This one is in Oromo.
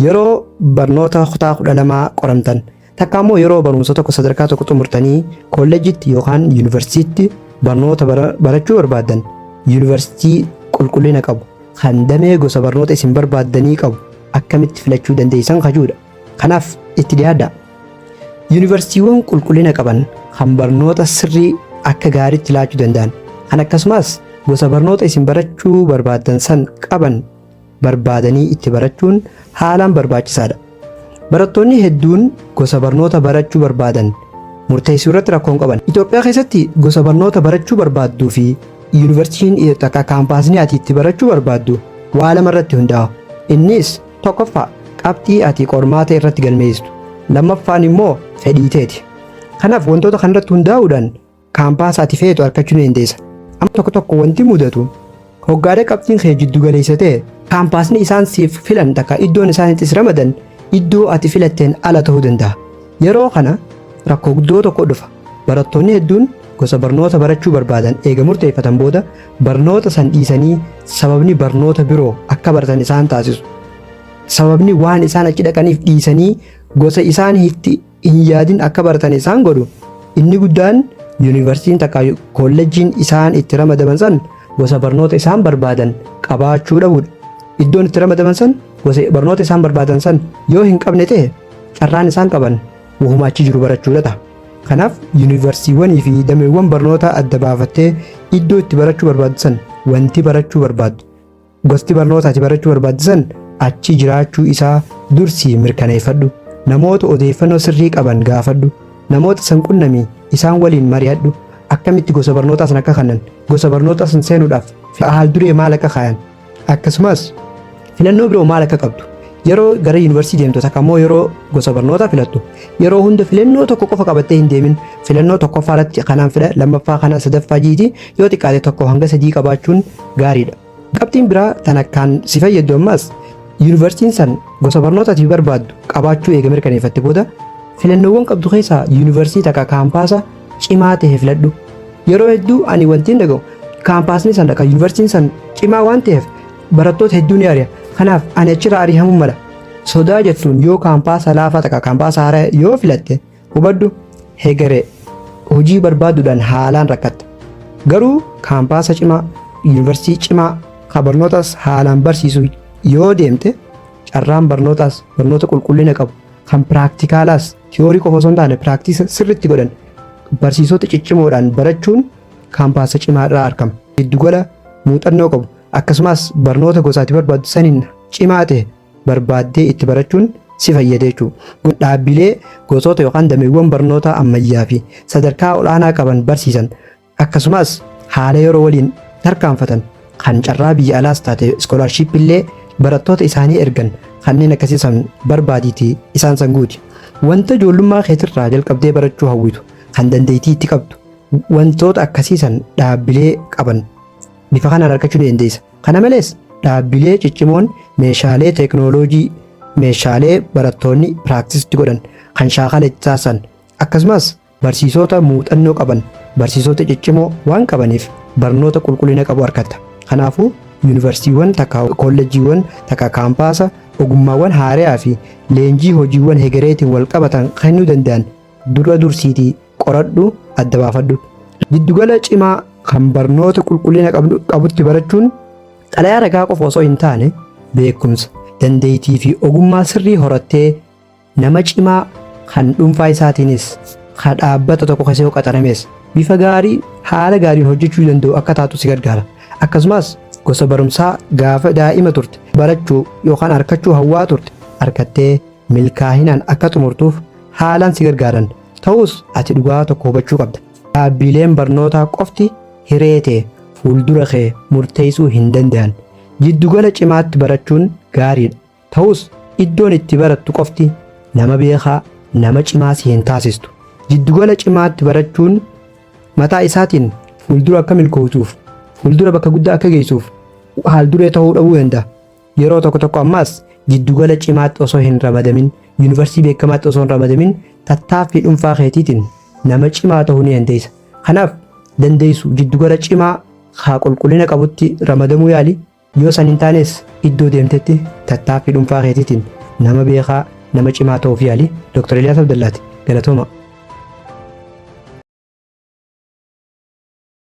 Yeroo barnoota kutaa 12 qoramtan takka immoo yeroo barumsa tokko sadarkaa tokko xumurtanii koolleejitti yookaan yuunivarsiitiitti barnoota bara- barachuu barbaaddan yuunivarsiitii qulqullina qabu kan damee gosa barnoota isin barbaaddanii qabu akkamitti filachuu dandeessan kajuudha. Kanaaf itti dhiyaadha. Yuunivarsiitiiwwan qulqullina qaban kan barnoota sirrii akka gaariitti laachuu danda'an kan akkasumas gosa barnoota isin barachuu barbaaddan san qaban barbaadanii itti barachuun haalaan barbaachisaadha. Barattoonni hedduun gosa barnoota barachuu barbaadan murteessuu irratti rakkoon qaban. Itoophiyaa keessatti gosa barnoota barachuu barbaadduu fi yuunivarsiitiin takka kaampaasni ati itti barachuu barbaaddu waa lama irratti hundaa'a. Innis tokkoffaa qabxii ati qormaata irratti galmeessistu. Lammaffaan immoo fedhii teeti. Kanaaf wantoota kanarratti hundaa'uudhaan kaampaasa ati feetu argachuu ni dandeessa. Amma tokko tokko wanti mudatu hoggaadha qabxiin kee jiddu galeessa ta'e kaampaasni isaan siif filan takka iddoon isaan itti si ramadan iddoo ati filatteen ala ta'uu danda'a. Yeroo kana rakkoo guddoo tokko dhufa. Barattoonni hedduun gosa barnoota barachuu barbaadan eega murteeffatan booda barnoota san dhiisanii sababni barnoota biroo akka baratan isaan taasisu. Sababni waan isaan achi dhaqaniif dhiisanii gosa isaan itti hin yaadin akka baratan isaan godhu. Inni guddaan yuunivarsiitiin takka koolleejjiin isaan itti ramadaman san gosa barnoota isaan barbaadan qabaachuu dhabuudha. Iddoon itti ramadaman san gosa barnoota isaan barbaadan san yoo hin qabne ta'e carraan isaan qaban wahuma achi jiru barachuudha ta'a. Kanaaf yuunivarsiiwwanii fi dameewwan barnootaa adda baafattee iddoo itti barachuu barbaaddu san wanti barachuu barbaaddu Gosti barnoota ati barachuu barbaachisan achi jiraachuu isaa dursii mirkaneeffadhu. Namoota odeeffannoo sirrii qaban gaafadhu. Namoota san qunnamii isaan waliin mari'adhu. Akkamitti gosa barnootaa san akka kanan, gosa barnootaa san seenuudhaaf haal duree maal akka kaayan, akkasumas filannoo biroo maal akka qabdu Yeroo gara yuunivarsiitii deemtu takka immoo yeroo gosa barnootaa filattu yeroo hunda filannoo tokko qofa qabattee hin deemin filannoo tokkoffaa irratti kanaan fila lammaffaa kana sadaffaa jiiti yoo xiqqaate tokko hanga sadii qabaachuun gaariidha. Qabxiin biraa tan akkaan si fayyaddu ammaas yuunivarsiitiin san gosa barnootaatiif barbaaddu qabaachuu eega mirkaneeffatte booda filannoowwan qabdu keessaa yuunivarsiitii takka kaampaasa cimaa ta'e filadhu. Yeroo hedduu ani wantiin dhaga'u kaampaasni san akka yuunivarsiitiin san cimaa waan ta'eef Barattoota hedduu ni ari'a. Kanaaf ani achirraa ari'amuu mala. Sodaa jettuun yoo kaampaasa laafaa takka kaampaasa haaraa yoo filatte hubadhu hegeree hojii barbaaduudhaan haalaan rakkatta. Garuu kaampaasa cimaa, yuunivarsiitii cimaa kan barnootas haalaan barsiisu yoo deemte carraan barnootaas barnoota qulqullina qabu kan piraaktikaalas tiyoorii qofa osoo hin taane piraaktiisa sirriitti godhan barsiisota ciccimoodhaan barachuun kaampaasa cimaa irraa argama. Giddugala muuxannoo qabu. Akkasumas barnoota gosa ati barbaaddu saniin cimaa ta'e barbaaddee itti barachuun si fayyada jechuudha. Kun dhaabbilee gosoota yookaan dameewwan barnootaa ammayyaa fi sadarkaa ol'aanaa qaban barsiisan akkasumas haala yeroo waliin tarkaanfatan kan carraa biyya alaas taate iskoolaarshiippii illee barattoota isaanii ergan kanneen akkasii san barbaadiitii isaan san guuti. Wanta ijoollummaa keetirraa jalqabdee barachuu hawwitu kan dandeettii itti qabdu wantoota akkasii san dhaabbilee qaban bifa kanaan argachuu ni dandeessa. Kana malees dhaabbilee ciccimoon meeshaalee teeknooloojii, meeshaalee barattoonni piraaktis itti godhan, kan shaakala itti taasisan, akkasumas barsiisota muuxannoo qaban, barsiisota ciccimoo waan qabaniif barnoota qulqullina qabu argatta. Kanaafuu yuunivarsiitiiwwan takka koolleejjiiwwan takka kaampaasa ogummaawwan haaraa fi leenjii hojiiwwan hegereetiin wal qabatan kennuu danda'an dura dursiitii qoradhu adda baafadhu. Giddugala cimaa kan barnoota qulqullina qabdu- qabutti barachuun xalayaa ragaa qofa osoo hin taane beekumsa, dandeettii fi ogummaa sirrii horattee nama cimaa kan dhuunfaa isaatiinis kan dhaabbata tokko keessa yoo qaxarames bifa gaarii haala gaariin hojjechuu danda'u akka taatu si gargaara. Akkasumas gosa barumsaa gaafa daa'ima turte barachuu yookaan arkachuu hawwaa turte arkattee milkaahinaan akka xumurtuuf haalaan si gargaaran ta'us ati dhugaa tokko hubachuu qabda. Dhaabbiileen barnootaa qofti hiree tee fuuldura kee murteessuu hin danda'an. Jiddugala cimaatti barachuun gaariidha. Ta'us iddoon itti barattu qofti nama beekaa, nama cimaa si hin taasistu. Jiddugala cimaatti barachuun mataa isaatiin fuuldura akka milkootuuf, fuuldura bakka guddaa akka geessuuf haal duree ta'uu dhabuu danda'a. Yeroo tokko tokko ammaas jiddugala cimaatti osoo hin ramadamin, yuunivarsiitii beekamaatti osoo hin ramadamin tattaaffii dhuunfaa keetiitiin nama cimaa ta'uu ni dandeessa. Kanaaf dandeessu jiddugala cimaa haa qulqullina qabutti ramadamuu yaali. Yoo san hin taanes iddoo deemtetti tattaaffii dhuunfaa keetiitiin nama beekaa, nama cimaa ta'uuf yaali. Dr. Eliyaas Abdallaati. Galatooma.